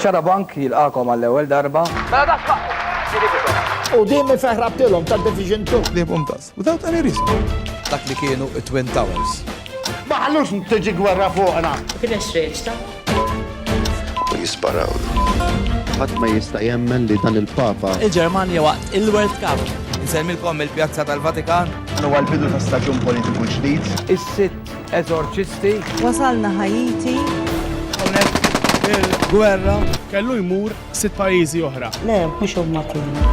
Xara Bank jilqakom għall-ewwel darba. Mela U din mi feħrabtilhom ta' Division 2. Libhom tas, without any risk. Dak li kienu it-Twin Towers. Ma ħallux tiġi gwerra fuqna. Kien xreġta. U jisparaw. Ħadd ma jista' jemmen li dan il-Papa. Il-Ġermanja waqt il-World Cup. Insemmilkom il-Pjazza tal-Vatikan. Huwa l-bidu ta' staġun politiku ġdid. Is-sitt Eżorċisti. Wasalna Ħaiti. Hawnhekk il-gwerra. Kellu jmur sitt pajjiżi oħra. Le, mhux huma kienu.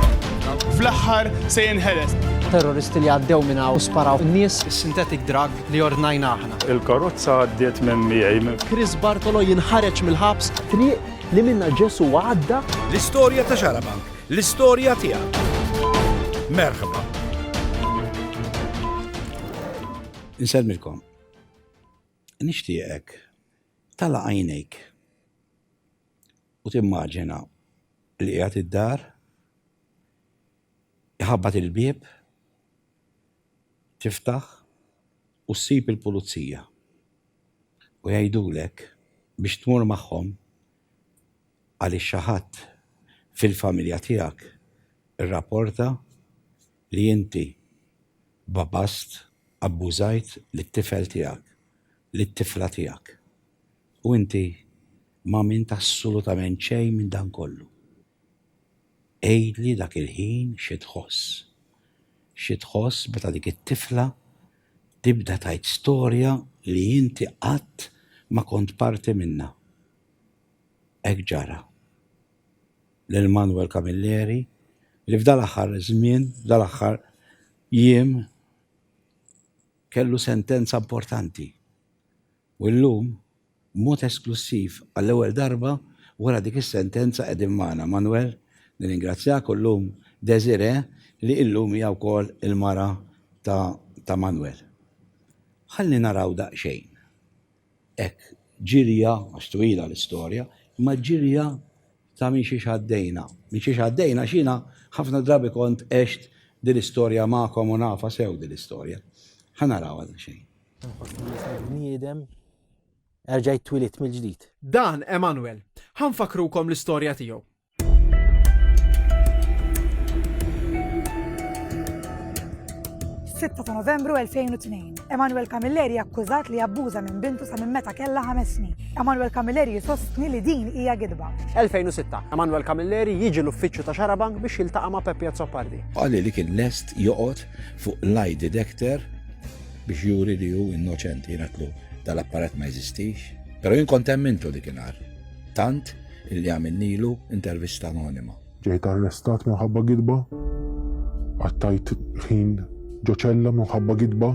Fl-aħħar se jinħeles. Terroristi li għaddew minn hawn u sparaw in-nies. Is-synthetic drug li ordnajna aħna. Il-karozza għaddiet minn miegħi. Chris Bartolo jinħareġ mill-ħabs. Triq li minnha Ġesù għadda. L-istorja ta' Xarabank. L-istorja tiegħek. Merħba. Insellmilkom. Nixtieqek tala' għajnejk u timmaġina li qiegħed id-dar, iħabbat il-bieb, tiftaħ u ssib il-pulizija u jgħidulek biex tmur magħhom għaliex xi ħadd fil-familja tiegħek irrapporta li inti babast, abbużajt lit-tifel tiegħek, lit-tifla tiegħek. U inti m'għamilt assolutament xejn minn dan kollu. Għidli dak il-ħin xi tħoss. Xi tħoss meta dik it-tifla tibda tgħid storja li inti qatt ma kont parti minnha. Hekk ġara. lil Manuel Camilleri li f'dal-aħħar żmien, f'dal-aħħar jiem kellu sentenza importanti u llum b'mod esklussiv għall-ewwel darba wara dik is-sentenza qegħdin magħna. Manuel, nirringrazzjak u llum Desiré li illum hija wkoll il-mara ta' Manuel. Ħalli naraw daqsxejn. Hekk, ġirja, għax twila l-istorja, imma ġirja ta' minn xiex għaddejna. Minn xiex għaddejna għax jiena ħafna drabi kont għext din l-istorja magħkom u nafha sew din l-istorja. Ħa narawha daqsxejn. Inħossni l-istess bniedem, erġajt twilidt mill-ġdid. Dan Emanuel. Ħa nfakrukom l-istorja tiegħu. F'sitta ta' Novembru 2002, Emanuel Camilleri akkużat li abbuża minn bintu sa minn meta kellha ħames snin. Emanuel Camilleri sostni li din hija gidba. 2006, Emanuel Camilleri jiġi l-uffiċċju ta' Xarabank biex jiltaqa' ma' Peppia Zoppardi. Qali li kien lest joqgħod fuq lie detector biex juri li hu innoċenti, jien għatlu dal-apparat ma jeżistix. Però jien kont emmintu dik il-nar. Tant Illi għamilnilu intervista anonima. Ġejt arrestat minħabba gidba, qattajt ħin ġo ċella minħabba gidba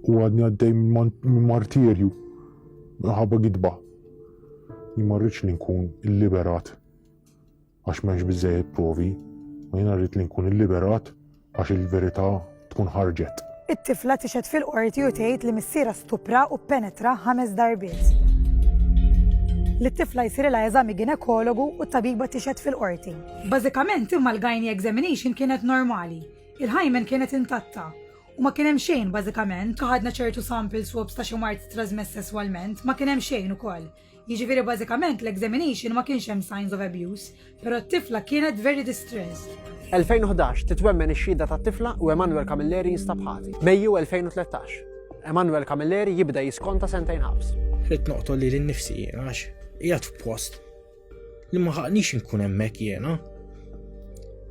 u għadni għaddej minn martirju minħabba gidba. Jien ma rridx li nkun illiberat għax m'hemmx biżżejjed provi, u jiena rrid li nkun illiberat għax il-verità tkun ħarġet. It-tifla tixhed fil-qorti u tgħid li missierha stupra u ppenetra ħames darbiet. Li t-tifla jsirilha eżami ginekologu u t-tabiba tixhed fil-qorti. Bażikament imma l-gynae examination kienet normali. Il-hymen kienet intatta. U ma kien hemm xejn bażikament, ħadna ċertu sample swabs ta' xi mard trasmess sesswalment, ma kien hemm xejn ukoll. Jiġifieri bażikament l-examination ma kienx hemm signs of abuse, però t-tifla kienet very distressed. 2011, Titwemmen ix-xhieda tat-tifla u Emanuel Camilleri jinstab ħati. Mejju 2013, Emanuel Camilleri jibda jiskonta sentejn ħabs. Ridt noqtol lili nnifsi jien għax qiegħed f'post li ma ħaqnix inkun hemmhekk jiena.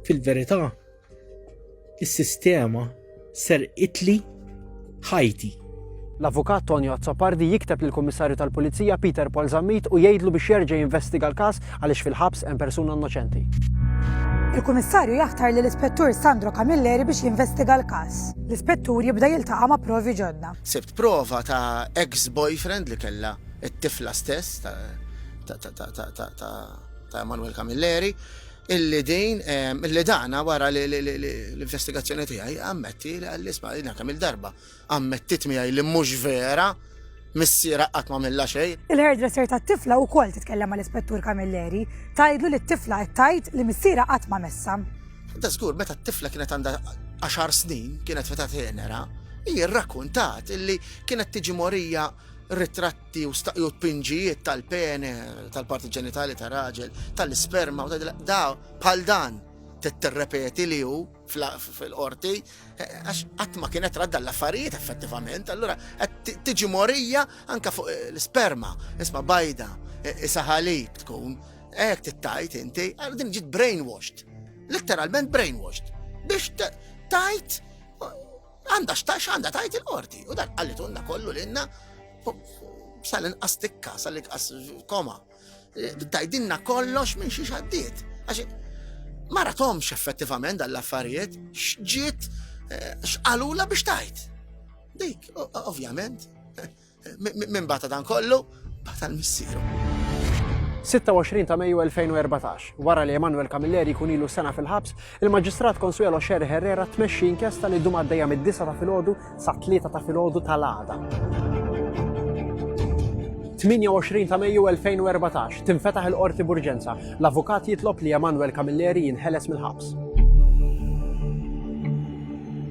Fil-verità, Is-sistema ser itli ħajti. L-Avukat Tonio Azzopardi jikteb lil Kummissarju tal-Pulizija Peter Paul Zammit u jgħidlu biex jerġa' jinvestiga l-każ għaliex fil-ħabs hemm persuna innoċenti. Il-Kummissarju jaħtar lil Ispettur Sandro Camilleri biex jinvestiga l-każ. L-Ispettur jibda jiltaqa' ma' provi ġodda. Sibt prova ta' ex boyfriend li kellha t-tifla stess ta' Emanuel Camilleri. illi din, illi dana wara li l-investigazzjoni tiegħi ammetti li għalli sma' jina kemm il-darba ammettit miegħi li mhux vera missiera qatt ma milla xejn. Il-hairdresser tat-tifla wkoll titkellem mal-Ispettur Camilleri tgħidlu li t-tifla qed tgħid li missiera qatt ma messa. Da żgur meta t-tifla kienet għandha għaxar snin kienet feta tenera, hi rrakkuntat illi kienet tiġi morija ritratt Ti u staqju t-pinġijiet tal-pene, tal-parti ġenitali ta' raġel, tal-isperma, da bħal dan t-terrepeti li ju fil-qorti, eh, għax għatma kienet radda l-affarijiet effettivament, allura tiġi morija anka fuq eh, l-sperma, isma bajda, eh, isaħalib tkun, ek t-tajt inti, għal din ġit brainwashed, letteralment brainwashed, biex tajt Għandha x'tax għandha tajt il-qorti u dak qallitunna kollu lilna sal-inqas tikka, sal-inqas koma. Eh, tajdinna kollox minn xi xaddiet. Għax ma ratomx effettivament dal-affarijiet xġiet eh, xqalula biex tajt. Dik, ovvjament, Min bata dan kollu, bata l-missieru. 26 ta' Mejju 2014, wara li Emanuel Camilleri jkun ilu sena fil-ħabs, il-Maġistrat Consuelo Sherry Herrera tmexxi inkjesta li ddum għaddejja mid-disa ta' filgħodu sa' tlieta ta' filgħodu tal-għada. 28 ta' Mejju 2014 tinfetaħ il-qorti burġenza. L-avukat jitlob li Emanuel Camilleri jinħeles mill-ħabs.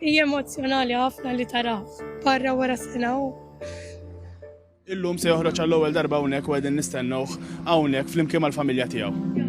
Hija emozzjonali ħafna li tara barra wara sena u Illum se joħroġ għall-ewwel darba hawnhekk u qegħdin nistennewh hawnhekk flimkien mal-familja tiegħu.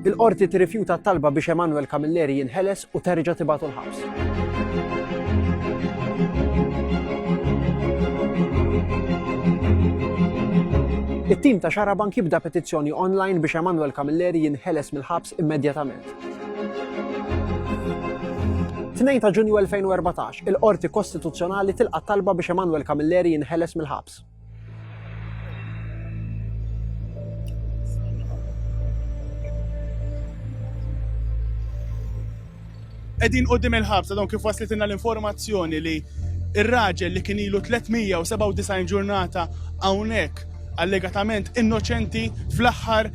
Il-Qorti tirrifjuta t-talba biex Emmanuel Camilleri jinħeles u terġa' tibagħtu l-ħabs. It-tim ta' Xarabank jibda petizzjoni online biex Emanuel Camilleri jinħeles mill-ħabs immedjatament. 2 ta' Ġunju 2014, il-Qorti Kostituzzjonali tilqa' talba biex Emanuel Camilleri jinħeles mill-ħabs. Qegħdin qudiem il-ħabsa dawn kif waslitilna l-informazzjoni li ir-raġel li kien ilu 397 ġurnata hawnhekk allegatament innoċenti fl-aħħar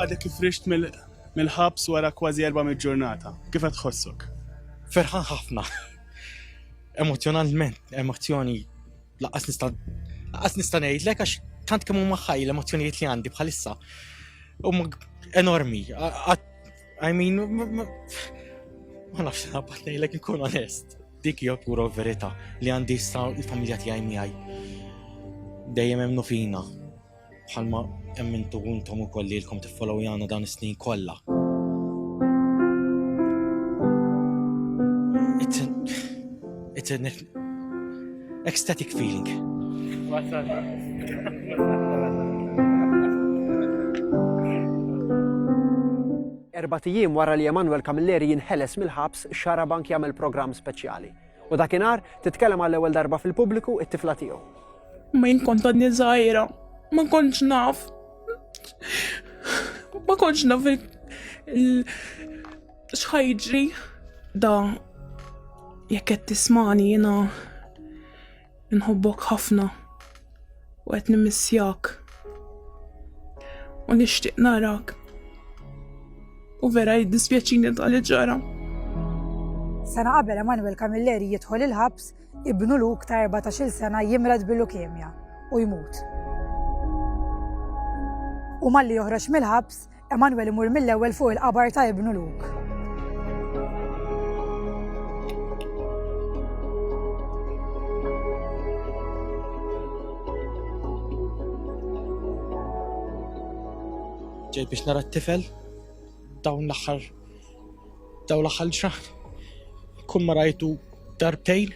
Għadek kif rixt mill-ħabs wara kważi 400 ġurnata. Kif qed tħossok? Ferħan ħafna. Emozzjonalment, emozzjoni laqas nista' laqas nista' ngħidlek għax tant kemm huma ħaj l-emozzjonijiet li għandi bħalissa huma enormi. I mean, ma nafx nabat nejlek nkun onest. Dik hija pura verita li għandi issa l-familja tiegħi miegħi. Dejjem hemm fina. Bħalma hemm intu intom ukoll li lkom tiffollow jana dan is-snin kollha. It's a, it's a Ecstatic feeling. Erba' tijiem wara li Emanuel Camilleri jinħeles mill-ħabs, xara bank jagħmel programm speċjali. U dakinhar titkellem għall ewwel darba fil-pubbliku it-tifla tiegħu. Ma jinkont għadni żgħira, ma kontx naf. Ma kontx naf X'ħa jiġri da jekk qed tismani jiena nħobbok ħafna u qed nimissjak u nixtieq narak u vera jiddispjaċini ta' li ġara. Sena qabel Emanuel Camilleri jidħol il-ħabs, ibnu Luk ta' 14-il sena jimrad bil-leukemia u jmut. U malli joħroġ mill-ħabs, Emanuel imur mill-ewwel fuq il-qabar ta' ibnu Luke. ġej biex nara t-tifel dawn l-axħar dawn l-axħar ġraħ kun marajtu darbtejn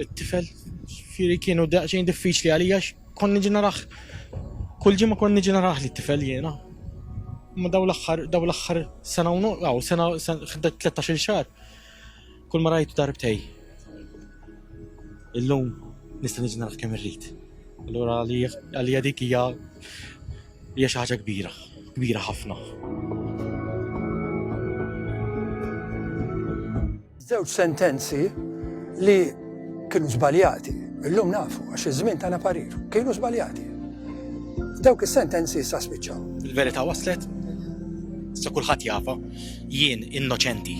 it-tifel ġifieri kienu daqsxejn diffiċli għalija konni ġi naraħ kull ġimgħa konni ġi naraħ li tifel jiena. Ma daw l-aħħar daw l-aħħar sena u għaw sena 13 xahar. Kull ma rajtu darbtej. Illum nista' niġi naraħ kemm irrid. Allura għalija dik hija hija xi ħaġa kbira, kbira ħafna. Żewġ sentenzi li kienu żbaljati, illum nafu għax iż-żmien tagħna parir, kienu żbaljati. Dawk is-sentenzi issa spiċċaw. Il-verità waslet, se kulħadd jafa, jien innoċenti.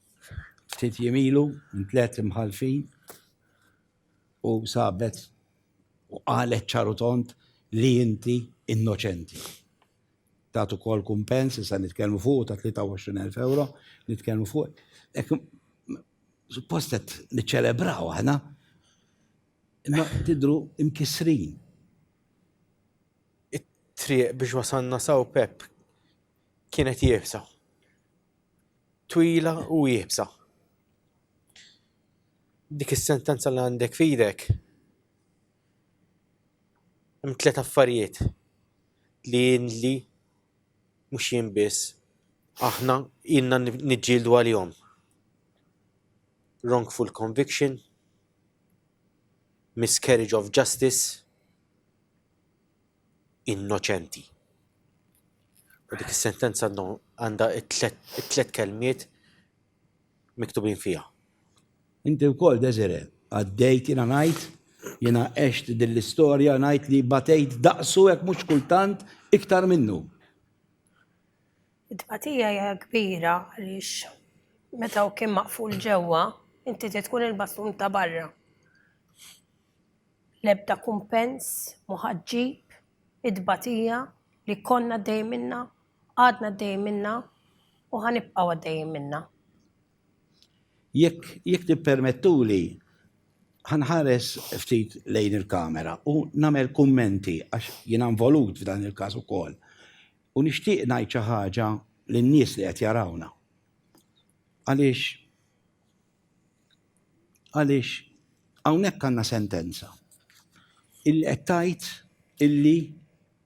ftit jiem ilu minn tliet imħallfin u sabet u qalet ċaru tont li inti innoċenti. Tat ukoll kumpens, issa nitkellmu fuq ta' 23,000 euro, nitkellmu fuq. Ek, suppost qed niċċelebraw aħna, imma tidru imkisrin. It-triq biex wasanna saw Pep kienet jibsa. twila u iebsa. Dik is-sentenza li għandek fidek hemm tliet affarijiet li li mhux jien biss aħna ilna niġġieldu għalihom. Wrongful conviction, miscarriage of justice, innoċenti. U dik is-sentenza għandha t-tlet kelmiet miktubin fiha. Inti wkoll Desire, għaddejt jiena ngħid, jiena għext din l-istorja ngħid li batejt daqsu jekk mhux kultant iktar minnu. It-tbatija hija kbira għaliex meta hu kien maqful ġewwa, inti trid tkun il-bastun ta' barra. L-ebda kumpens mu ħa ġġib it-tbatija li konna għaddejjin minnha, għadna għaddejjin minnha u ħa nibqgħu għaddejjin minnha. Jekk jekk tippermettuli ħa nħares ftit lejn il-kamera u nagħmel kummenti għax jiena involut f'dan il-każ ukoll. U nixtieq ngħid xi ħaġa lin-nies li qed jarawna. Għaliex Għaliex hawnhekk għandna sentenza illi qed tgħid illi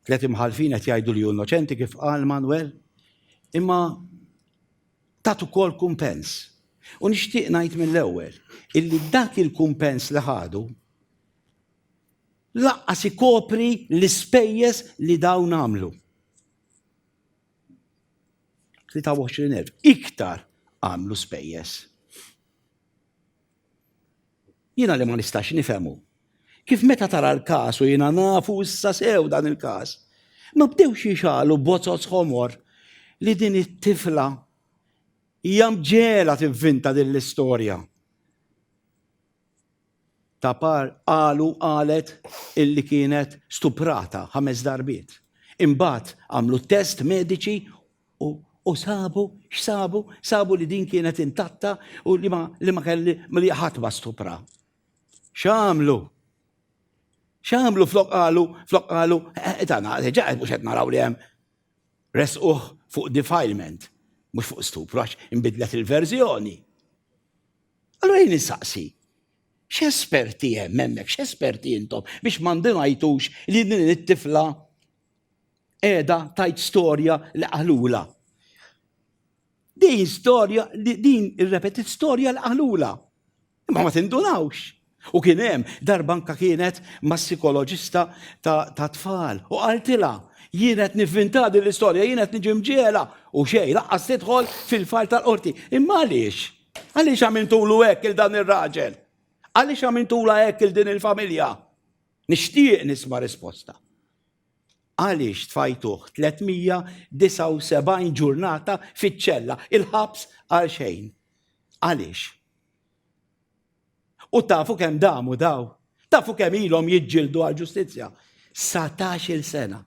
tliet imħallfin qed jgħidu li hu innoċenti kif qal Manwel, imma tat ukoll kumpens. U nixtieq ngħid mill-ewwel illi dak il-kumpens li ħadu laqqas ikopri l-ispejjeż li dawn għamlu. 23,000 iktar għamlu spejjeż. Jiena li ma nistax nifhemu. Kif meta tara l-każ u jiena nafu issa sew dan il-każ, ma bdewx jixalu bozzoz ħomor li din it-tifla hija mġela tivvinta din l-istorja. Tapar qalu qalet illi kienet stuprata ħames darbiet. Imbagħad għamlu test mediċi u u sabu x'sabu? Sabu li din kienet intatta u li ma li ma kelli li ħadd ma stupra. X'għamlu? X'għamlu flok qalu, flok qalu, etana, eh, eh, ġaqed mhux qed naraw li hemm resquh fuq defilement, mhux fuq stupru għax inbidlet il-verżjoni. Allura jien insaqsi, x'esperti hemm hemmhekk, x'esperti intom biex ma ndunajtux li din it-tifla qiegħda tajt storja li qaħlula. Din storja, din irrepetit storja li qaħlula. Imma ma tindunawx. U kien hemm darba anka kienet ma' sikoloġista ta' tfal u qaltilha jien qed nivvinta din l-istorja, jien qed niġi mġiela u xejn laqqas tidħol fil-fajl tal-qorti. Imma għaliex? Għaliex għamiltulu hekk il dan ir-raġel? Għaliex għamiltula hekk il din il-familja? Nixtieq nisma' risposta. Għaliex tfajtuh 379 ġurnata fiċ-ċella il-ħabs għal xejn? Għaliex? U tafu kemm damu daw? Tafu kemm ilhom jiġġieldu għal ġustizzja? Satax il sena.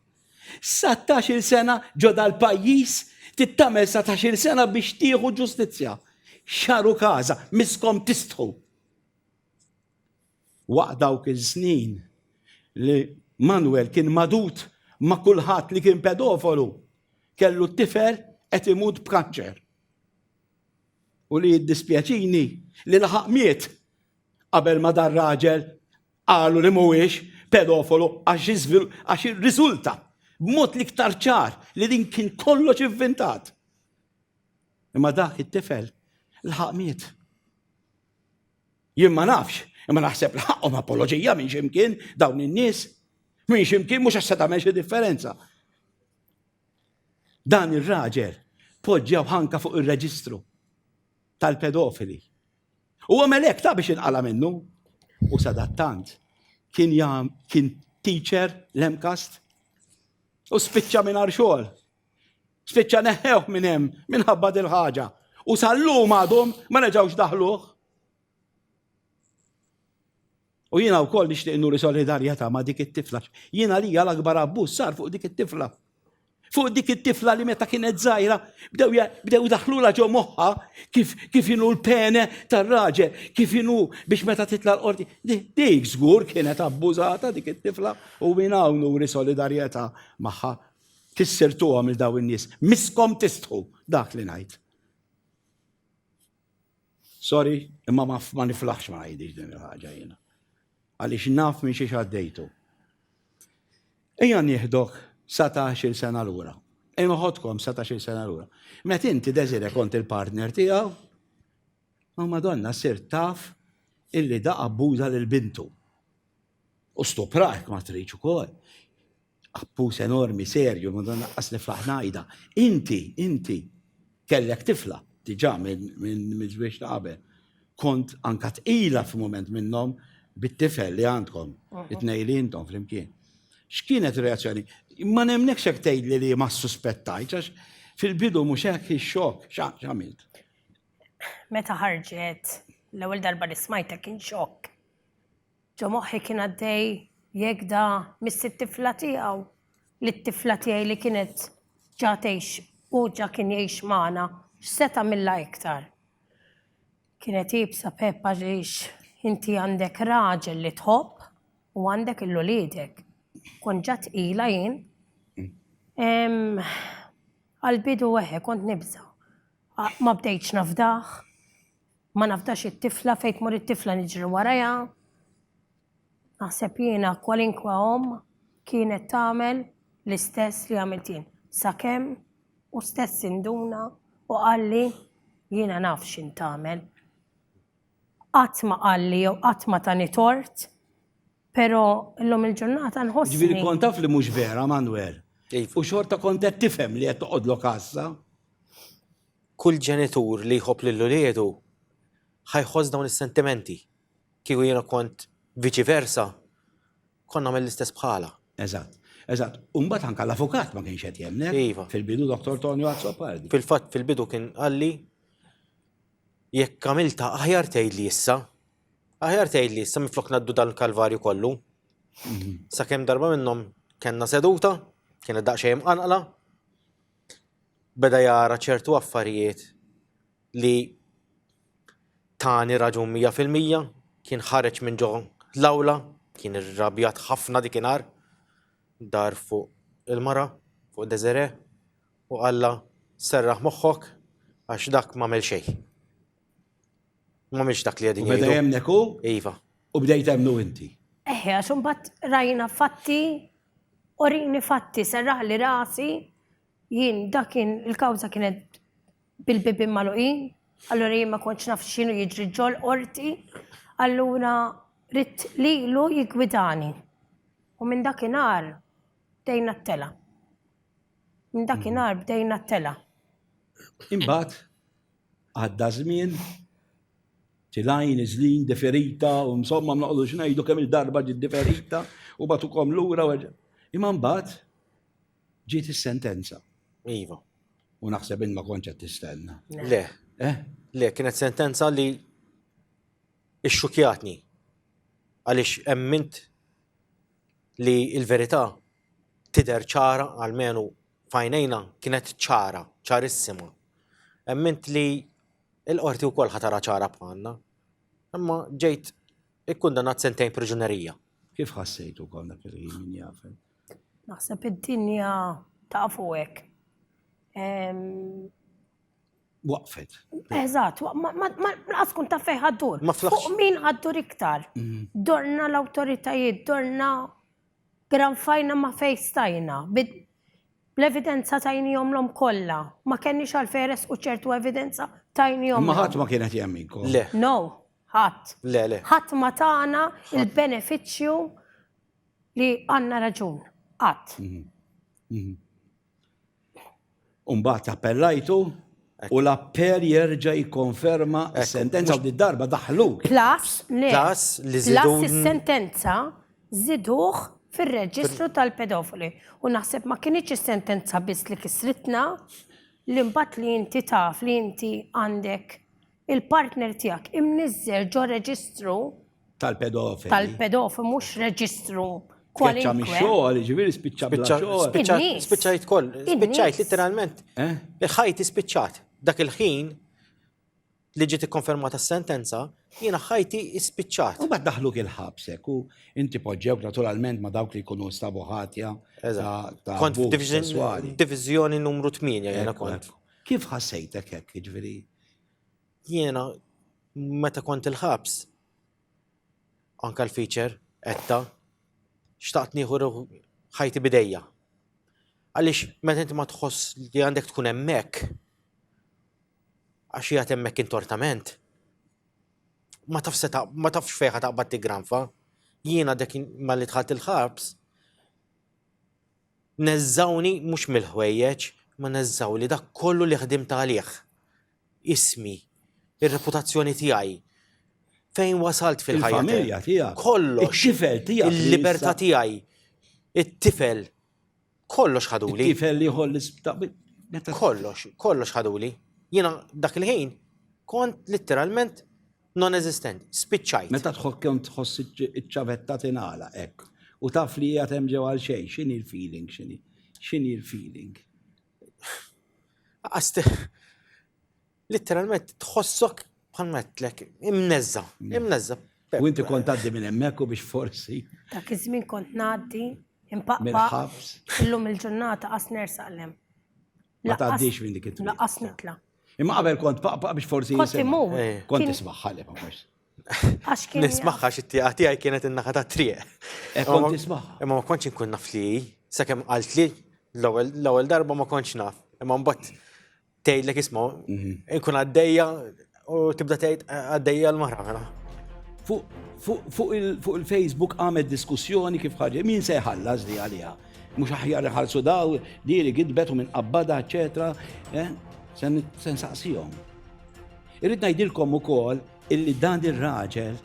Satax il sena ġo dal-pajjiż tittamel satax il sena biex tieħu ġustizzja. Xaru każa, miskom tistħu. Waqt dawk il-snin li Manuel kien madut ma' kulħadd li kien pedofolu, kellu t-tifel qed imut b'kanċer. U li jiddispjaċini li laħaq miet qabel ma dan raġel qalu li mhuwiex pedofolu għax irriżulta b'mod l-iktar ċar li din kien kollox ivvintat. Imma dak it-tifel laħaq miet. Jien ma nafx, imma naħseb li ħaqqhom apoloġija minn ximkien dawn in-nies. Minn ximkien mhux għax se tagħmel xi differenza. Dan ir-raġel poġġew ħanka fuq ir-reġistru tal-pedofili. U għamel hekk ta' biex inqala minnu. U sadattant kien jam kien teacher l-emkast u spiċċa minn xogħol. Spiċċa neħħewh minn hemm minħabba dil ħaġa u sal-lum għadhom ma reġgħux daħluh. U jiena wkoll nixtieq nuri solidarjetà ma' dik it-tifla. Jiena lija l-akbar abbuż sar fuq dik it-tifla. Fuq dik it-tifla li meta kienet żgħira bdew bdew daħlula ġo moħħa kif kif inhu l-pene tar-raġel, kif inhu biex meta titla' l-qorti. Dik żgur kienet abbużata dik it-tifla u minn hawn nuri solidarjetà magħha. Tissirtuhom il daw in-nies, miskom tistħu dak li ngħid. Sorry, imma ma, ma niflaħx ma ngħidix din il-ħaġa jiena. Għaliex naf minn xiex għaddejtu. Ejja nieħdok 17 sena lura. Ejja noħodkom 17 sena lura. Met inti deżire kont il-partner tiegħu, ma madonna sir taf illi da abbuża lil bintu. U stuprajk ma tridx ukoll. Abbuż enormi, serju, m'għandha naqqas niflaħ ngħidha. Inti, inti, kellek tifla diġà minn żwieġ ta' qabel. Kont anka tqila f'mument minnhom bit-tifel li għandkom, it-tnejn li intom flimkien. X'kienet ir-reazzjoni? Ma nemnekx hekk tgħidli li ma ssuspettajtx għax fil-bidu mhux hekk ix-xokk x'għamilt. Meta ħarġet l-ewwel darba li smajtek kien xokk. Ġo moħħi kien għaddej jekk da miss it-tifla tiegħu lit-tifla tiegħi li kienet ġa tgħix u ġa kien jgħix magħna, x'se tagħmilha iktar. Kienet iebsa Pepp għaliex inti għandek raġel li tħobb u għandek il-uliedek. Kont ġa tqila jien. Għall-bidu eħe kont nibża'. Ma bdejtx nafdah. Ma nafdax it-tifla, fejn tmur it-tifla niġri warajha. Naħseb jiena kwalinkwa omm kienet tagħmel l-istess li għamilt jien. Sakemm hu stess induna u qalli jiena naf x'int tagħmel. Qatt ma qalli jew qatt ma tani tort, però llum il-ġurnata nħossni. Ġifieri kont taf li mhux vera, Manwel? U xorta kont qed tifhem li qed toqgħodlok għassa? Kull ġenitur li jħobb lil uliedu ħa jħoss dawn is-sentimenti. Kieku jiena kont viċi versa, kont nagħmel l-istess bħalha. Eżatt. Eżatt. U mbagħad anke l-avukat ma kienx qed jemmnek. Iva. Fil-bidu Dottor Tonio Azzopardi. Fil-fatt fil-bidu kien qalli jekk għamiltha aħjar tgħidli issa. Aħjar tgħidli issa minflok ngħaddu dan il-kalvarju kollu. Sakemm darba minnhom kellna seduta, kienet daqsxejn imqanqla, beda jara ċertu affarijiet li tani raġun mija fil-mija, kien ħareġ minn ġo l-awla, kien irrabjat ħafna dik inhar, dar fuq il-mara, fuq Desere, u qalla serraħ moħħok għax dak m'għamel xejn. Mhumiex dak li qegħdin jgħidu. Beda jemnek hu? Iva. U bdejt hemmnu inti. Eħe, għax imbagħad rajna fatti, orini fatti, serraħ li rasi, jien dakin il-kawża kienet bil-bibin maluqin, allura jien ma kontx naf x'inhu jiġri ġol qorti, allura rid lilu jigwidani. U minn dakinhar bdejna t-tela. Minn dakinhar bdejna t-tela. Imbagħad? għadda żmien, tilajn, iżlin, deferita, u insomma ma noqgħodux ngħidu kemm il-darba ġiet deferita u batukom lura u Imma mbagħad ġiet is-sentenza. Iva. U naħseb in ma kontx qed tistenna. Le. Eh? Le, kienet sentenza li ixxukjatni. Għaliex emmint li il-verità tider ċara għalmenu f'għajnejna kienet ċara, ċarissima. Emmint li l-Qorti wkoll ħa tara ċara bħalna. Imma ġejt ikkundannat sentejn priġunerija. Kif ħassejt ukoll dak il-ħin min jafel? Naħseb id-dinja tafu hekk. Waqfet. Eżatt, ma laqas kun taf fejn ħaddur. Ma flaħx. Fuq min ħaddur iktar. Mm. Dorna l-awtoritajiet, dorna Granfajna ma fejn stajna, bl-evidenza tajniehomlhom kollha. Ma kenniex għalfejn iressqu ċertu evidenza tajniehomlhom. Imma ħadd ma kien qed jemminkom. Le. No, ħadd. Le, le. Ħadd ma tana l-benefiċċju li għandna raġun. Qatt. U mbagħad appellajtu u l-appell jerġa' jikkonferma s-sentenza u d-darba daħlu. Plus, le. Plus li żidu. Plus is-sentenza żiduh fir-reġistru tal-pedofili. U naħseb ma kinitx is-sentenza biss li kisritna li mbagħad li inti taf li inti għandek il-partner tiegħek imniżżel ġo reġistru Tal-pedofili. Tal-pedofili, mhux reġistru Spiċċa mi xogħol, ġifieri spiċċa bla xogħol. Spiċċajt koll, spiċċajt literalment. Eh? Il-ħajti spiċċat. Dak il-ħin li ġiet ikkonfermata s-sentenza, jiena ħajti spiċċat. U bad daħlu kien ħabsek u inti poġġew naturalment ma dawk li jkunu stabu ħatja. Kont divizjoni numru 8 jiena kont. Kif ħassejtek hekk, ġifieri? Jiena meta kont il-ħabs, anka l-feature, etta, xtaqt nieħu ħajti bidejja. Għaliex meta inti ma tħoss li għandek tkun hemmhekk, għax jgħat hemmhekk intortament, ma tafx ma tafx fejħa taqbad tigranfa. Jiena dek ma li tħat il-ħabs, neżżawni mhux mill-ħwejjeġ, ma neżżaw li dak kollu li ħdim talih. ismi, ir-reputazzjoni tiegħi, fejn wasalt fil-ħajja. Il-familja tiegħek. Kollox. It-tifel tiegħek. Il-libertà tiegħi. It-tifel. Kollox ħaduli. It-tifel li ħolli Kollox, kollox ħaduli. Jiena dak il-ħin kont litteralment non-eżistent, spiċċajt. Meta tħok kemm tħoss iċ-ċavetta tingħala hekk. U taf li hija hemm ġew għal xejn, x'inhi l-feeling, x'inhi? X'inhi l-feeling? Litteralment tħossok bħal metlek, imnezza, imnezza. U inti kont għaddi minn hemmhekk u biex forsi. Dak iż-żmien kont ngħaddi impaqqa. Illum il-ġurnata qas nersaqlem. Ma tgħaddix minn dik it-triq. Laqas nitla. Imma qabel kont paqqa biex forsi. Kont imur. Kont ismaħħalek ma forsi. Għax kien. Nismaħħa xi tieqa tiegħi kienet in-naħa ta' triq. E kont nismaħħa. Imma ma kontx inkun naf li sakemm qalt li l-ewwel darba ma kontx naf. Imma mbagħad tgħidlek isma' mhm. inkun għaddejja u tibda tgħid għaddejja l-mara. Fuq il-Facebook għamed diskussjoni kif ħarġi, min se jħallas li għalija? Mhux aħjar ħarsu daw, diri gidbet u minn qabbada, eċetera. Eh? Sen saqsijom. Irrid ngħidilkom ukoll illi dan ir-raġel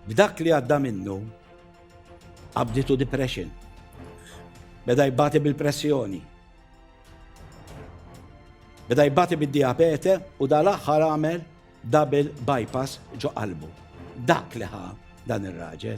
b'dak li għadda minnu qabditu depression. Beda jbati bil-pressjoni. Beda jbati bid-diabete u dal-aħħar għamel double bypass ġo qalbu. Dak li ħa dan ir-raġel.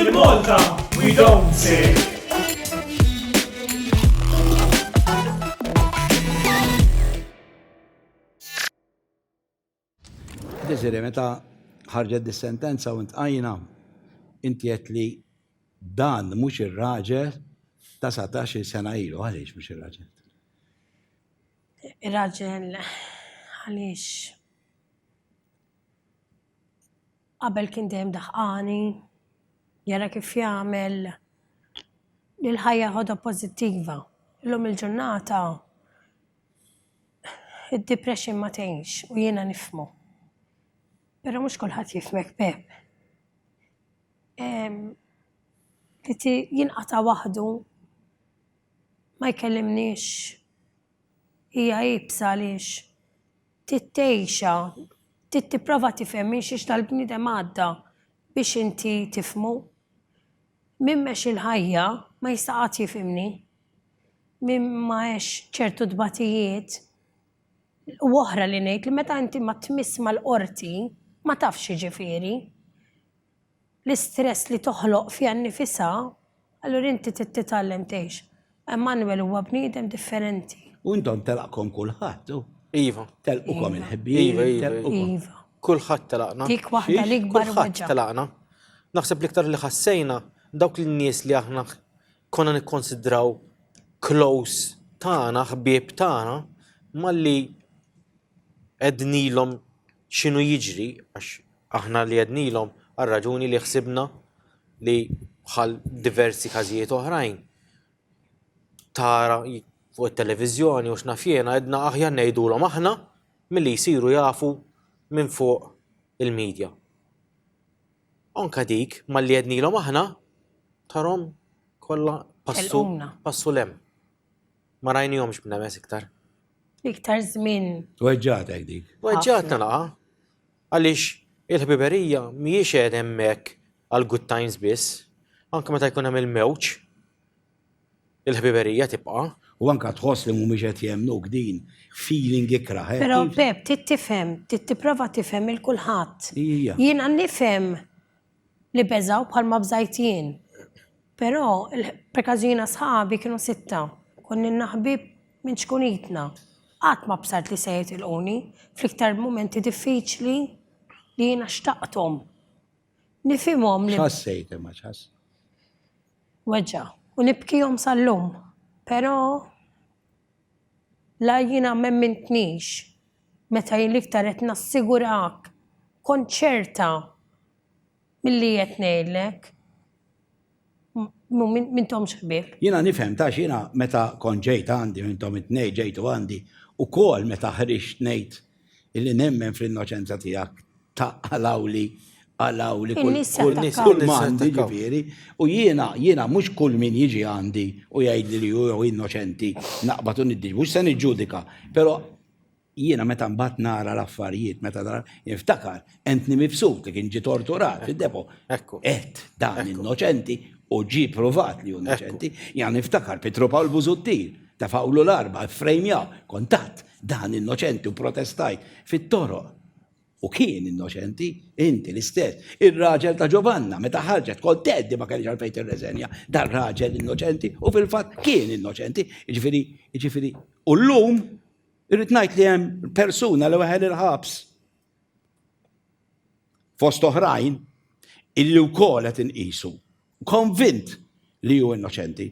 Il-Malta, we don't say. Desire, meta ħarġet dis-sentenza u ntqajna, inti qed li dan mhux ir-raġel ta' 17 sena ilu, għaliex mhux ir-raġel? Ir-raġel għaliex qabel kien dejjem daħqani, jara kif jagħmel li l-ħajja ħodha pożittiva. Illum il-ġurnata id-depression ma tgħinx u jiena nifhmu. Però mhux kulħadd jifhmek b'hekk. Li jinqata' waħdu ma jkellimniex hija iebsa għaliex trid tgħixha, trid tipprova tifhem minn xiex dal-bniedem għadda biex inti tifhmu. Min mhex il-ħajja ma jista' qatt jifhimni. Min ma għexx ċertu tbatijiet, u oħra li ngħid li meta inti ma tmiss mal-qorti ma tafx x'jiġifieri. l-istress li toħloq fiha nnifisha, allura inti trid titgħallem tgħix. Emmanuel huwa bniedem differenti. U intom telaqkom kulħadd, hu? Iva. Telqukom il-ħbieb. Iva, iva, iva. Iva. Kulħadd telaqna. Dik waħda l-ikbar waġġa. Kulħadd telaqna. Naħseb l-iktar li ħassejna dawk lin-nies li aħna konna nikkonsidraw close tagħna, ħbieb tagħna, malli qegħdnilhom x'inhu jiġri għax Aħna li għednilhom għar-raġuni li ħsibna li bħal diversi każijiet oħrajn tara fuq it-televiżjoni u x'naf jiena għedna aħjar ngħidulhom aħna milli jsiru jafu minn fuq il-media. Anke dik malli għednilhom aħna tarhom kollha passu passu 'l hemm. Ma rajnihomx b'nemes iktar. Iktar żmien. Weġġagħtek dik. Weġġagħtna naqgħa. Għaliex il-ħbiberija mhijiex qed hemmhekk għall-good times biss. Anke meta jkun hemm il-mewġ, il-ħbiberija tibqa'. U anke tħoss li mhumiex qed jemmnuk din feeling ikrah. Però Pep, trid tifhem, trid tipprova tifhem il-kulħadd. Jiena nifhem li beżgħu bħalma bżajt jien. Però, perkaż jiena sħabi kienu sitta, konnilna ħbieb minn ċkunitna. Qatt ma bsajt li se jitilquni, fl-iktar mumenti diffiċli li jiena xtaqthom. Nifhimhom li. X'ħassejt imma, x'ħass? Weġgħa. U nibkihom sal-lum. Però. La jiena m'emmintnix meta jien l-iktar qed nassigurak, kont ċerta milli qed ngħidlek. M'intomx ħbieb. Jiena nifhem għax jiena meta kont ġejt għandi u intom it-tnejn ġejtu għandi ukoll meta ħriġt ngħid illi nemmen fl-innoċenza tiegħek ta' għalawli għalawli kull In-nies kull nis jattakkaw. kull mandi jattakkaw. ġifieri u jiena jiena mhux kull min jiġi għandi u jgħidli li hu jew innoċenti naqbad u niddi mhux se niġġudika però jiena meta mbagħad nara l-affarijiet meta nara niftakar entni mibsut li kien ġi torturat fid-depo Ekku. qed dan innoċenti u ġi provat li hu innoċenti jgħan niftakar Pietro Pawl Busuttil tefawlu l-arba frejmja kontatt Dan innoċenti u protestajt fit-toroq. U kien innoċenti, inti l-istess. Ir-raġel ta' Ġovanna, meta ħarġet kont tgħeddi ma kellix għalfejn tirreżenja. Dan raġel innoċenti u fil-fatt kien innoċenti. Ġifieri, ġifieri, u llum irrid ngħid li hemm persuna li weħel il-ħabs. fost oħrajn, illi wkoll qed inqisu, konvint li hu innoċenti.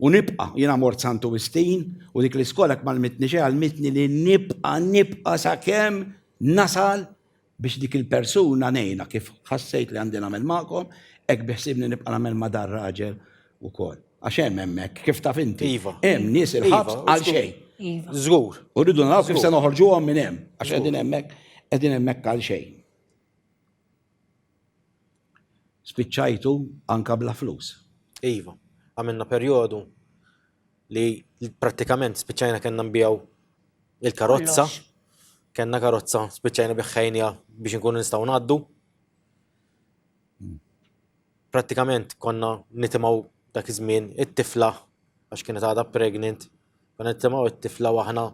U nibqa' jiena mort Santu Wistin u dik l-iskola ma lmitni xejn għalmitni li nibqa' nibqa' sakemm nasal biex dik il-persuna ngħinha kif ħassejt li għandi nagħmel magħkom, hekk beħsiebni nibqa' nagħmel ma' dar-raġel ukoll. Għax hemm hemmhekk, kif taf inti. Iva. Hemm nies il-ħabs iva, għal xejn. Iva. Żgur. U rridu naraw kif se noħorġuhom minn hemm, għax qegħdin hemmhekk, qegħdin hemmhekk għal xejn. Spiċċajtu anka bla flus. Iva, għamilna perjodu li prattikament spiċċajna kellna nbijaw il-karozza. Kenna karozza spiċċajna biħħajnija biex nkunu nistgħu ngħaddu. Prattikament konna nitimgħu dak iż-żmien it-tifla għax kienet għadha pregnant, konna nitimgħu it-tifla u aħna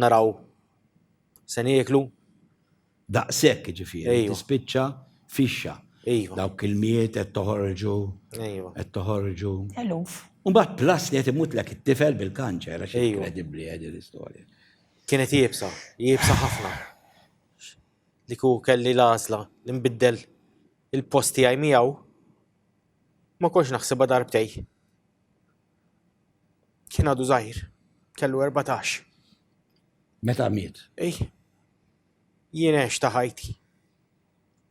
naraw se nieklu. Daqshekk jiġifieri tispiċċa fixxa. Dawk il-mijiet qed toħorġu, qed toħorġu. Eluf. U mbagħad plus li qed imutlek it-tifel bil-kanċer għax inkredibbli din l-istorja. Kienet iebsa, iebsa ħafna. li kieku kelli l-għażla li nbiddel il-post tiegħi miegħu, ma kontx naħsibha darbtej. Kien għadu żgħir, kellu 14. Meta miet? Ej, jien għex ta' ħajti.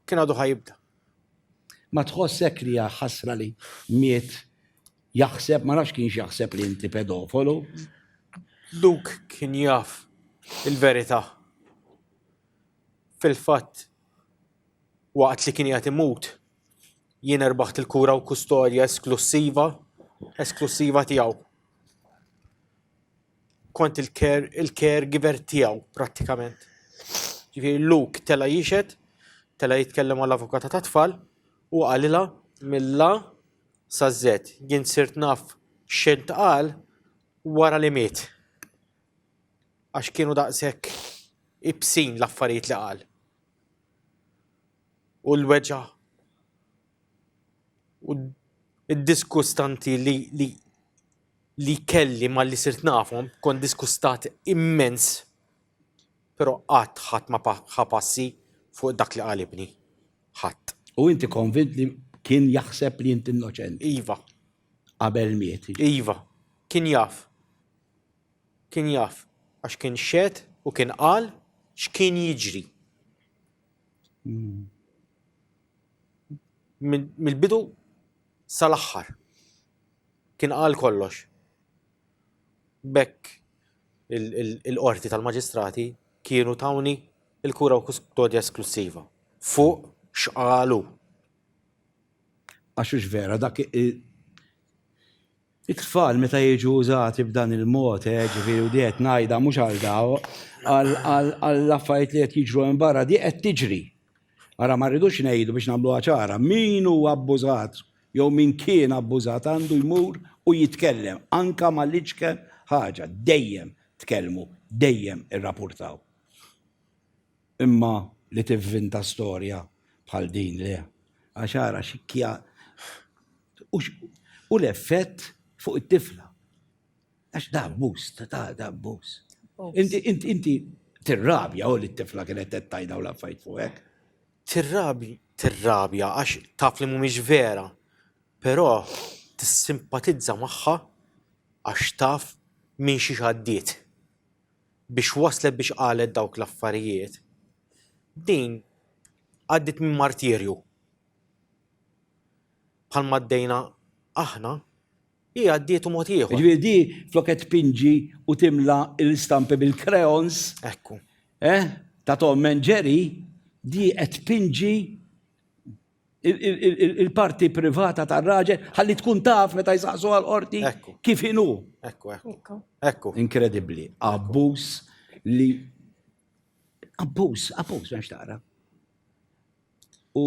Kien għadu ħajibda. Ma tħossek li ħasra li miet jaħseb, ma nafx kienx jaħseb li inti pedofolu. Luke kien jaf il-verità. Fil-fatt, waqt li kien qiegħed imut, jien erbaħt il-kura u kustodja esklussiva, esklussiva tiegħu. Kont il-care, il-caregiver tiegħu prattikament. Ġifieri Luke tela' jixed, tela' jitkellem mal-avukata tat-tfal u qalilha mill-A sa Z. Jien sirt naf x'intqal wara li miet. Għax kienu daqshekk ibsin l-affarijiet li qal. U l-weġa' u d-diskustanti li, li, li kelli malli sirt nafhom, kont diskustat immens, però qatt ħadd ma ħa passi fuq dak li qal ibni. Ħadd. U inti konvint li kien jaħseb li int innoċenti? Iva. Qabel miet? Iva. Kien jaf. Kien jaf, għax kien xehed u kien qal x'kien jiġri. Mill-bidu sal-aħħar. Kien qal kollox. B'hekk il-Qorti tal-Maġistrati kienu tawni l-kura u kustodja esklussiva. Fuq x'qal hu. Għax hux vera dak It-tfal meta jiġu użati b'dan il-mod, eh, ġifieri u di qed ngħidha mhux għal daw, għall-affarijiet li qed jiġru hemm barra, di qed tiġri. Ara ma rridux ngħidu biex nagħmluha ċara, min hu abbużat jew min kien abbużat għandu jmur u jitkellem anke mal-iċken ħaġa, dejjem tkellmu, dejjem irrapurtaw. Imma li tivvinta storja bħal din le. Għax ara xi kja u x u l-effett fuq it-tifla. Għax da abbuż, ta' da abbuż. Inti inti inti tirrabja u li t-tifla kienet qed tgħid dawn l-affarijiet fuqek. Tirrabi tirrabja għax taf li mhumiex vera, però tissimpatizza magħha għax taf minn xiex għaddiet. biex waslet biex qalet dawk l-affarijiet, din għaddiet minn martirju. Bħalma għaddejna aħna, hi għaddietu mod ieħor. Ġifieri di flok qed tpinġi u timla l-istampi bil-crayons. Ekku. Eh? Ta' Tom and Jerry, di qed tpinġi il-parti privata tar-raġel ħalli tkun taf meta jsaqsu għal qorti kif inhu. Ekku, ekku. Ekku. Inkredibbli. Abbuż li abbuż, abbuż m'hemmx tara. U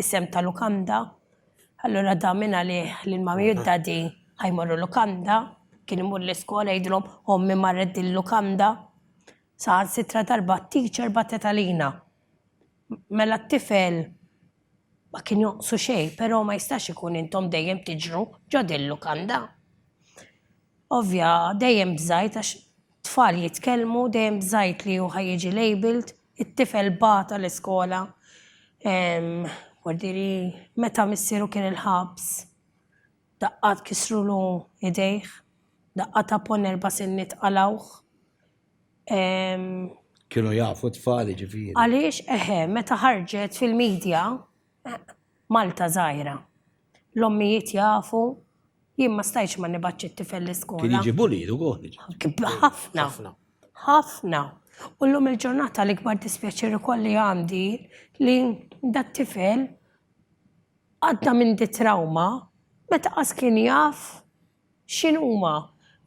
Isem ta' lukanda, allura dan minn għalih li l-Mami u d-Daddy ħajmorru lukanda, kien imur l-iskola jgħidilhom ommi marret din lukanda. Saħansitra darba t-teacher bagħtet għalina. Mela t-tifel ma kien jonqsu xejn, però ma jistax ikun intom dejjem tiġru ġo din lukanda. Ovvja, dejjem bżajt għax tfal jitkellmu, dejjem bżajt li hu ħa jiġi labelled, it-tifel bata l-iskola, kwartieri, meta missieru kien il-ħabs, daqqat kisrulu idejh, daqqa ta' ponn erba' sinniet qalgħuh. Kienu jafu t-tfal jiġifieri. Għaliex, eħe, meta ħarġet fil-media, Malta żgħira. L-ommijiet jafu, jien ma stajtx ma nibgħatx it-tifel l-iskola. Kien jiġi bullied ukoll. Ħafna. Ħafna. Ħafna. U llum il-ġurnata l-ikbar dispjaċir ukoll li għandi li dat-tifel għadda minn di trauma meta qas kien jaf X'inhuma?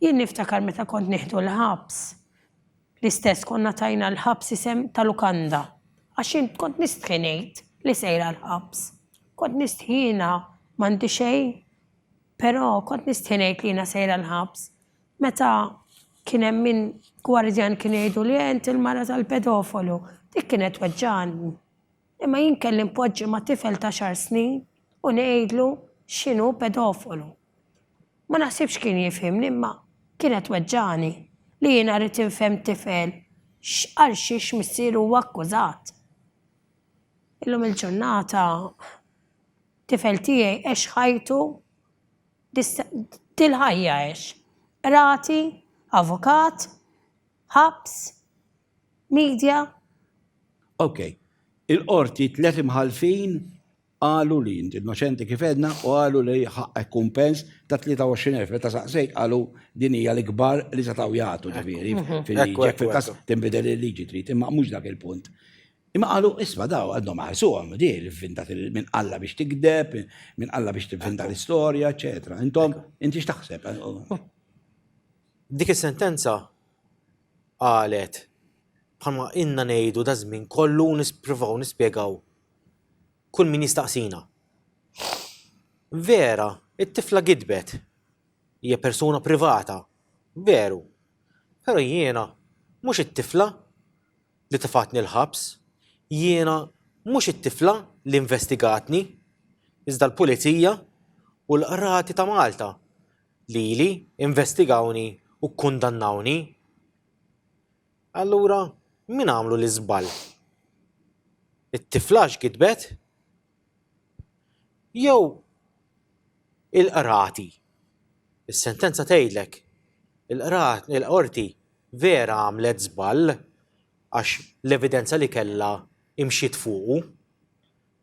Jien niftakar meta kont nieħdu l-ħabs, l-istess konna tajna l-ħabs isem ta' lukanda. Għax jien kont nistħi ngħid li sejra l-ħabs. Kont nistħina, m'għandi xejn, però kont nistħi ngħid li jiena sejra l-ħabs. Meta kien hemm min gwardjan kien jgħiduli eh inti l-mara tal-pedofolu, dik kienet tweġġagħni. Imma jien kelli npoġġi ma' tifel ta' xahar snin u ngħidlu x'inhu pedofolu. Ma naħsibx kien jifhimni imma kienet tweġġagħni li jiena rrid infhemm tifel għal xiex missieru huwa akkużat. Illum il-ġurnata tifel tiegħi għex ħajtu dil-ħajja għex. Qrati, avukat, ħabs, media. Ok. Il-Qorti tliet imħallfin Qalu li int innoċenti kif għedna u qalu li ħaqqek kumpens ta' 23,000. Meta saqsejt qalu din hija l-ikbar li setgħu jagħtu ġifieri fil-liġi. Jekk fil-każ tinbidel il-liġi trid, imma mhux dak il-punt. Imma qalu isma' daw għadhom ma ħarsuhom di l-ivvinta min qalla biex tigdeb, min qalla biex tivvinta l-istorja, eċċetera. Intom, inti x'taħseb? Dik is-sentenza qalet bħalma ilna ngħidu daż-żmien kollu u nispruvaw nispjegaw kull min jistaqsina. Vera, it-tifla gidbet. Hija persuna privata. Veru. Però jiena mhux it-tifla li tefgħatni l-ħabs. Jiena mhux it-tifla li investigatni. Iżda l-Pulizija u l-Qrati ta' Malta lili investigawni u kkundannawni. Allura, min għamlu l-iżball? It-tiflax gidbet? Jew il-qrati? Is-sentenza tgħidlek il-qorti vera għamlet żball għax l-evidenza li kellha imxiet fuqu.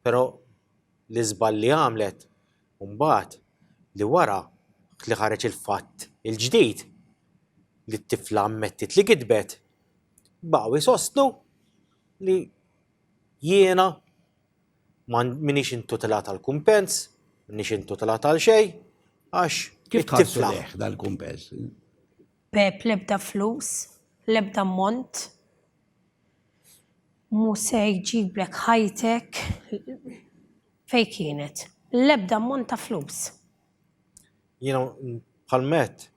Però l-iżball li għamlet mbagħad li wara li ħareġ il-fatt il-ġdid li t-tifla ammettiet li gidbet, baqgħu jsostnu li jiena m'iniex intutilata għal kumpens, m'iniex intutilata għal xejn għax it-tifla. Kif dal-kumpens? B'ebda flus, l-ebda ammont. Mhu se jġiblek ħajtek fejn kienet. L-ebda ammont ta' flus. Jiena bħal Matt.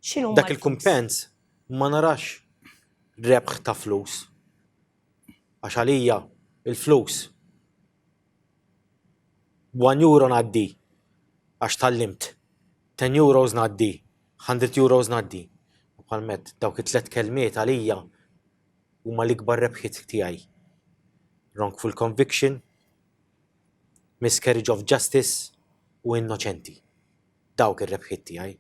X'inhuma? Dak il-kumpens ma narax rebħ ta' flus. Għax għalija l-flus one euro ngħaddi għax tgħallimt, ten euros ngħaddi Hundred euros ngħaddi. U bħal m'għedt, dawk it-tliet kelmiet għalija huma l-ikbar rebħiet tiegħi. Wrongful conviction, miscarriage of justice u innoċenti. Dawk ir-rebħiet tiegħi,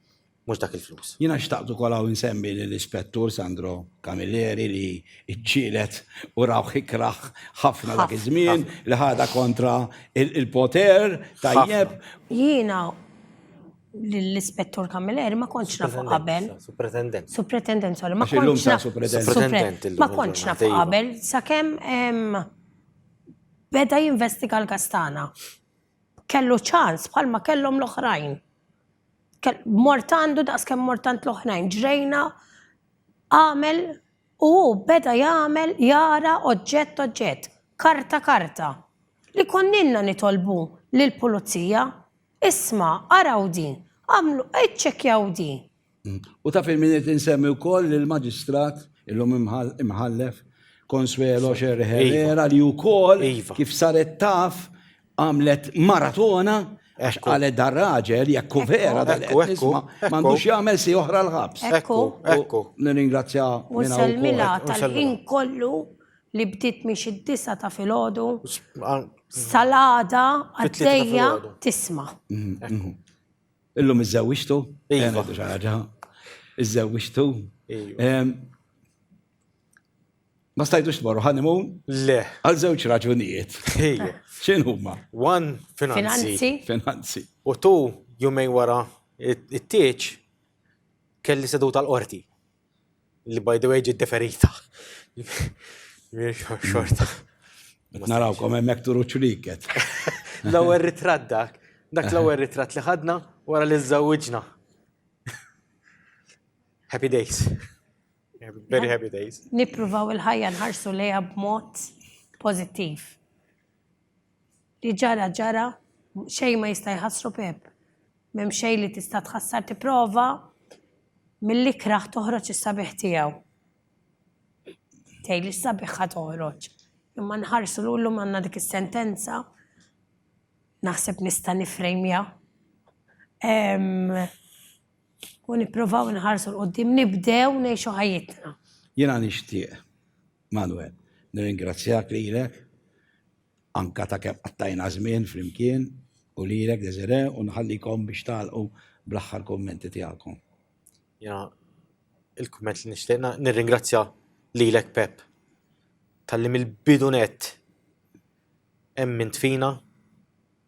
mhux dak il-flus. Jiena xtaqt ukoll hawn insemmi lill-Ispettur Sandro Camilleri li ġġieled u rawh ikrah ħafna dak iż-żmien li ħadha kontra l-poter tajjeb. Jiena l-ispettur Camilleri ma kontx nafu qabel. Supretendent. Supretendent, sorry. Ma kontx nafu. Ma kontx nafu qabel. Sakem beda jinvestiga l-kastana. Kellu ċans bħalma kellhom l-oħrajn. Mortandu daqs kemm mortant l-oħrajn. Ġrejna għamel u beda jagħmel jara oġġett oġġett. Karta karta. Li konninna nitolbu lill-pulizija Isma', araw din, agħmlu, iċċekkjaw din. U taf il-min irid insemmi wkoll lill-Maġistrat, illum Imħallef, Consuelo Sher Herrera li wkoll kif saret taf għamlet maratona għax qalet dar raġel jekk hu vera dak li qed nisma' m'għandux jagħmel si oħra l-ħabs. Ekku, ekku. Nirringrazzja minn hawn. U nsellmilha tal-ħin kollu li bdiet minn xi disgħa ta' filgħodu sal-għada għaddejja tisma'. Illum iżżewwiġtu? Iva. Iżżewwiġtu? Ma stajtux tmorru honeymoon? Le. Għal żewġ raġunijiet. Ejja. X'inhu huma? One, finanzi. Finanzi. U tu, jumejn wara it-tieġ, kelli seduta tal-qorti. Li by the way ġiet deferita. Xorta. Narawkom hemmhekk turu ċriket. L-ewwel ritratt dak. Dak l-ewwel ritratt li ħadna wara li żżewwiġna. Happy days. Very happy days. Nippruvaw il-ħajja nħarsu lejha b'mod pożittiv. Li ġara ġara, xejn ma jista' jħassru Pepp. M'hemm xejn li tista' tħassar tipprova mill-ikrah toħroġ is-sabiħ tiegħu. Tgħidli x'sabiħha toħroġ? Imma nħarsu 'l llum għandna dik is-sentenza, naħseb nista' nifrejmja, u nipprovaw inħarsu 'l quddiem, nibdew ngħixu ħajjitna. Jiena nixtieq Manuel, nirringrazzjak lilek anke ta' kemm qattajna żmien flimkien u lilek Desiré u nħallikom biex tagħlqu bl-aħħar kummenti tiegħekom. Jiena il-kumment li nixtieq nirringrazzja lilek Pep talli mill-bidu nett emmint fina,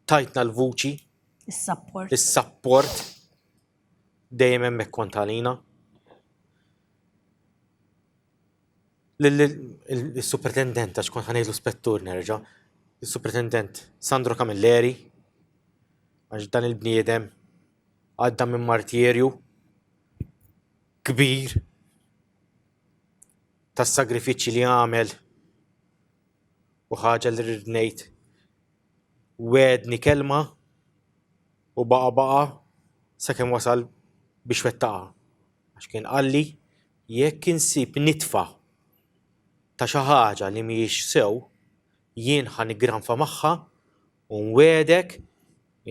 tajtna l-vuċi, is-sapport, is-sapport dejjem hemmhekk kont għalina. l-Superintendent, għax kont ħanejlu spettur nerġa', l-Superintendent Sandro Camilleri, għax dan il-bniedem għadda minn martirju kbir tas-sagrifiċċji li għamel u ħaġa li rrid ngħid wegħedni kelma u baqa' baqa' sakemm wasal biex wettaqha. Għax kien qalli, 'Jekk insib nitfa ta' xi ħaġa li mhijiex sew, jien ħa niggranfa magħha u nwiegħdek,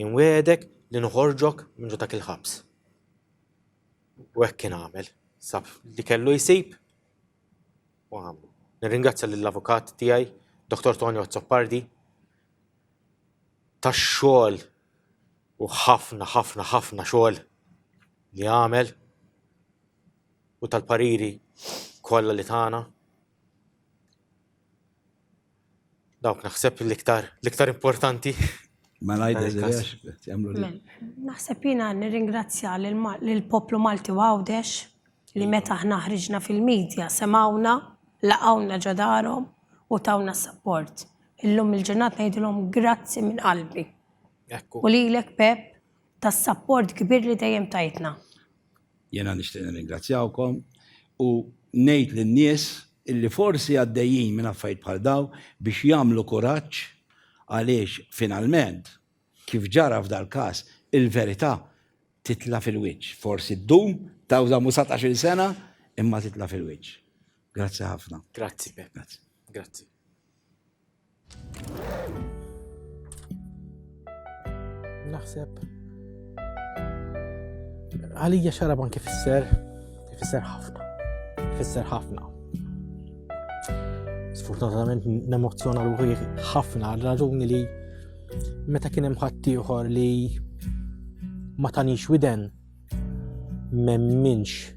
inwiegħdek li noħorġok minn ġo dak il-ħabs. U hekk kien għamel. Sab li kellu jsib u għamlu. Nirringrazzja lill-avukat tiegħi, Dottor Tonio Azzopardi, tax-xogħol u ħafna ħafna ħafna xogħol li għamel u tal-pariri kollha li tagħna. Dawk naħseb l-iktar l-iktar importanti. Ma ngħidilx jagħmlu Naħseb jiena nirringrazzja lill-poplu Malti u Għawdex li meta aħna ħriġna fil-media semgħuna, laqgħuna ġo darhom u tawna s-sapport. Illum il-ġurnata ngħidilhom grazzi minn qalbi. U lilek Pep tas-sapport kbir li dejjem tajtna. Jiena nixtieq nirringrazzjawkom u ngħid lin-nies illi forsi għaddejjin minn affarijiet bħal dawn biex jagħmlu kuraġġ għaliex finalment Kif ġara f'dal-każ, il-verità titla' fil-wiċċ. Forsi ddum, tawdam u satax-il sena, imma titla' fil-wiċċ. Grazzi ħafna. Grazzi, Pep. Grazzi. Grazzi. Naħseb għalija xarab anki fisser, fisser ħafna, fisser ħafna. Sfortunatament nemozzjona ruħi ħafna għal raġuni li Meta kien hemm ħaddieħor li ma tanix widen memminx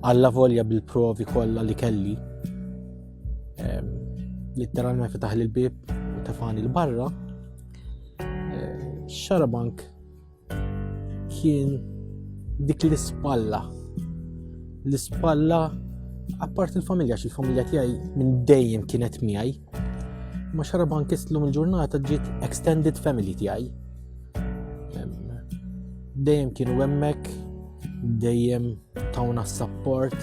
għalla volja bil-provi kollha li kelli ehm, literalment fetaħ l-bib u tafani l-barra ehm, xarabank Kien dik l-ispalla. L-ispalla appart il-familja, xi familja tiegħi minn dejjem kienet miegħi. Ma xaraban kistlum il-ġurnata ġiet extended family tiegħi. Dejjem kienu hemmhekk, dejjem tawna s-support,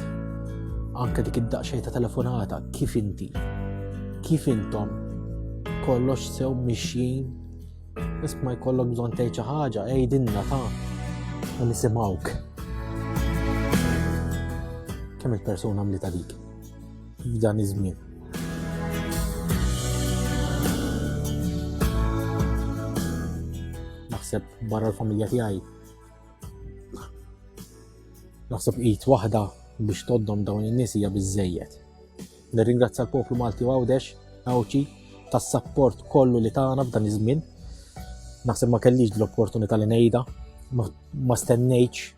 anke dik id-daqxej ta' telefonata, kif inti, kif intom, kollox sew mixjin Bis ma jkollok bżon tgħid xi ħaġa, għidilna ta' u nisimgħuk. Kemm il-persuna mlita dik f'dan iż-żmien. Naħseb barra l-familja tiegħi. Naħseb id waħda biex toddom dawn in-nies hija biżejjed. Nirringrazzja l-poplu Malti u Għawdex, Għawdxi, tas-sapport kollu li tagħna f'dan iż-żmien. Naħseb ma kellix l-opportunità li ngħidha, ma stennejtx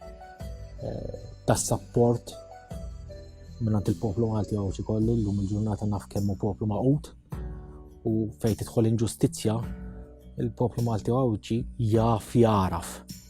eh, tas-sapport minnant il-poplu Malti Għawdxi kollu llum il-ġurnata naf kemm hu poplu maqut u fejn tidħol inġustizzja il-poplu Malti Għawdxi jaf jaraf